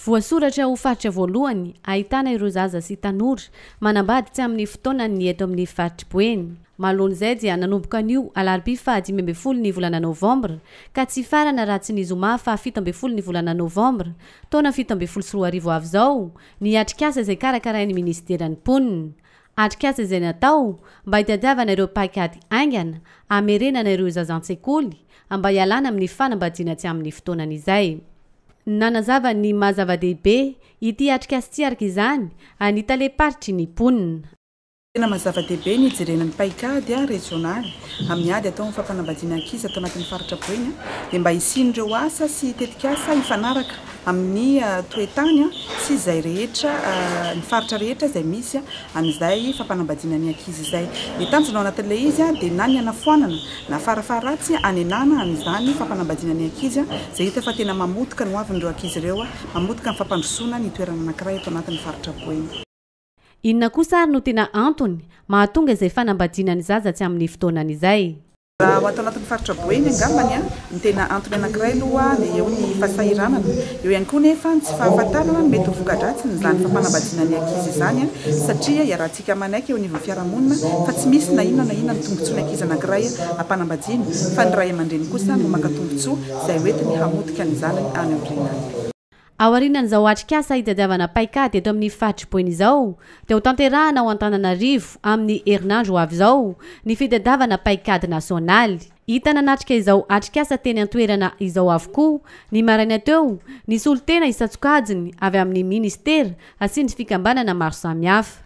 Voasoratra ho faritra voalohany ahitana ireo zaza sy tanora manambady tsy amin'ny fotoanany ny eto amin'ny faritr'i Boeny. Mahaloan'izay dia nanomboka anio alarobia faha dimy ambin'ny folo ny volana novambra ka tsy hifarana raha tsy ny zoma faha fito ambin'ny folo ny volana novambra taona fito ambin'ny folo sy roa arivo avy izao ny atrikasa izay karakarain'ny minisiteran'ny mponina. Atrikasa izay natao mba hitadiavana ireo paikady haingana hamerenana ireo zaza an-tsekoly mba hialana amin'ny fanambadiana tsy amin'ny fotoanany izay. Nanazava ny maha zava-dehibe ity atrikasa ity araka izany ny talem-paritry ny mponina. Tena maha zava-dehibe ny hijerena ny paikady rezionaly amin'ny ady atao amin'ny fampanambadiana ankizy ato anatin'ny faritra Boeny dia mba hisian'ireo asa sy tetikasa hifanaraka amin'ny toe-tany sy izay rehetra, ny faritra rehetra izay misy an'izay fampanambadiana ny ankizy izay. Ny tanjona ao anatin'ilay izy dia na ny hanafoanana na farafaharatsy hanenana an'izany fampanambadiana ny ankizy izay hita fa tena mamotika ny hoavin'ireo ankizy ireo, mamotika ny fampandrosoana ny toerana anankiray eto anatin'ny faritra Boeny. Inona kosa ary no tena antony mahatonga izay fanambadiana ny zaza tsy amin'ny fotoanany izay? Raha ho ato anatin'ny faritra Boeny angambany no tena antony anankiray aloha dia eo ny fahasahiranana. Eo ihany koa nefa ny tsy fahafantarana ny mety ho voka-dratsiny izany fampanambadiana ny ankizy izany satria iarahantsika manaiky eo anivon'ny fiarahamonina fa tsy misy na inona na inona ny tombotsoan'ny ankizy anankiray ampanambadiana fa ny ray aman-dreny kosa no maka tombotsoa izay hoentiny hamotika ny zanany any aoriana. Aorianan'izao atrikasa hitadiavana paikady eto amin'ny faritry Boeny izao dia ho tanterahana ao Antananarivo amin'ny herinandro ho avy izao ny fitadiavana paikady nasionaly. Hita nanatrika izao atrikasa teny an-toerana izao avokoa ny maraina teo ny solontena isan-tsokajiny avy amin'ny minisitera sy ny fikambanana maro samihafa.